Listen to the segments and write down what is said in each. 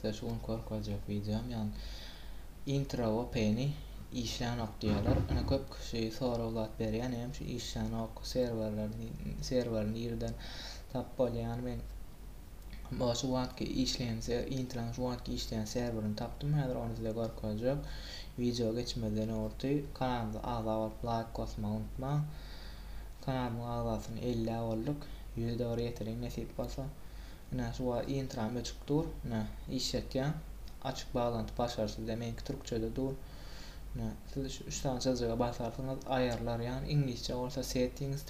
Size şu gün görkezjek videom yani intro open'i işlänok diýýärler. Ine köp kişi sorag zat berýän hem şu işlänok serwerler serwer nirden tap bolýan men Muňa şu wagtky işleýän ser intraň şu wagtky işleýän serwerini tapdym häzir ony size görkezjek wideo geçmezden owrty kanalymyza agza bolup laýk basmagy unutmaň kanalymyň agzasyny ellä bolduk ýüze dogry ýeteriň nesip bolsa ine şu wagt intram öçük dur ine işletýän açyk baglanty başar sizde meňki türkçede dur ine siz şu üç sany çyzjyga basarsyňyz aýarlar ýagny iňlisçe bolsa settings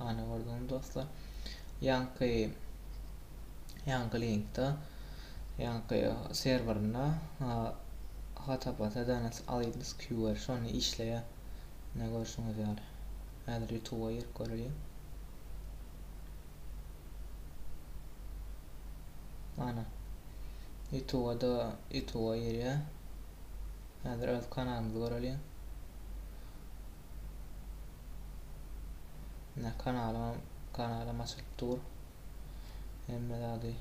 Ana gördüňmi dostlar. Ýaňky ýaňky linkde ýaňky serwerinde HTTPS DNS Alliance QR şonda işleýär. Ne görşüňiz ýaly. Häzir YouTube-a girip göreýin. Ana. YouTube-a da YouTube-a girýär. Häzir öz kanalymyzy göreýin. Ine kanalym kanalym açylyp dur. Hemme zady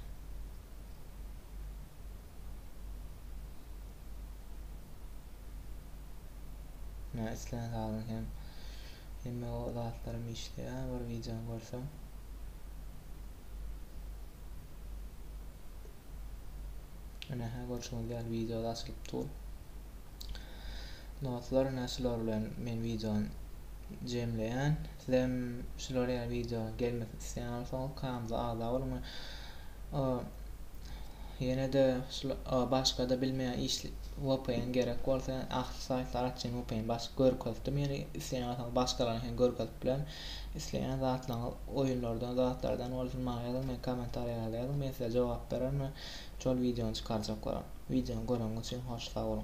Ne islän zadyň hem hemme o zatlarym işleýär bir wideony görsem. Ine hä görşüňiz ýaly video açylyp dur. Dostlar ine şular bilen men videony jemleýän. Sizem şular ýaly video gelmesini isleýän bolsaňyz kanalymyza agza boluň. Ýene-de başga-da bilmeýän iş VPN gerek bolsa, ahli saýtlar açýan VPN baş görkezdim. Ýene isleýän bolsaňyz başgalaryňky hem görkezip bilerin. Isleýän zatlaryňyz oýunlardan, zatlardan bolsun maňa ýazyň, men kommentariýa ýazyň, men size jogap bererin we Şol wideony çykarjaklara. Wideony göreňiz üçin hoş sag boluň.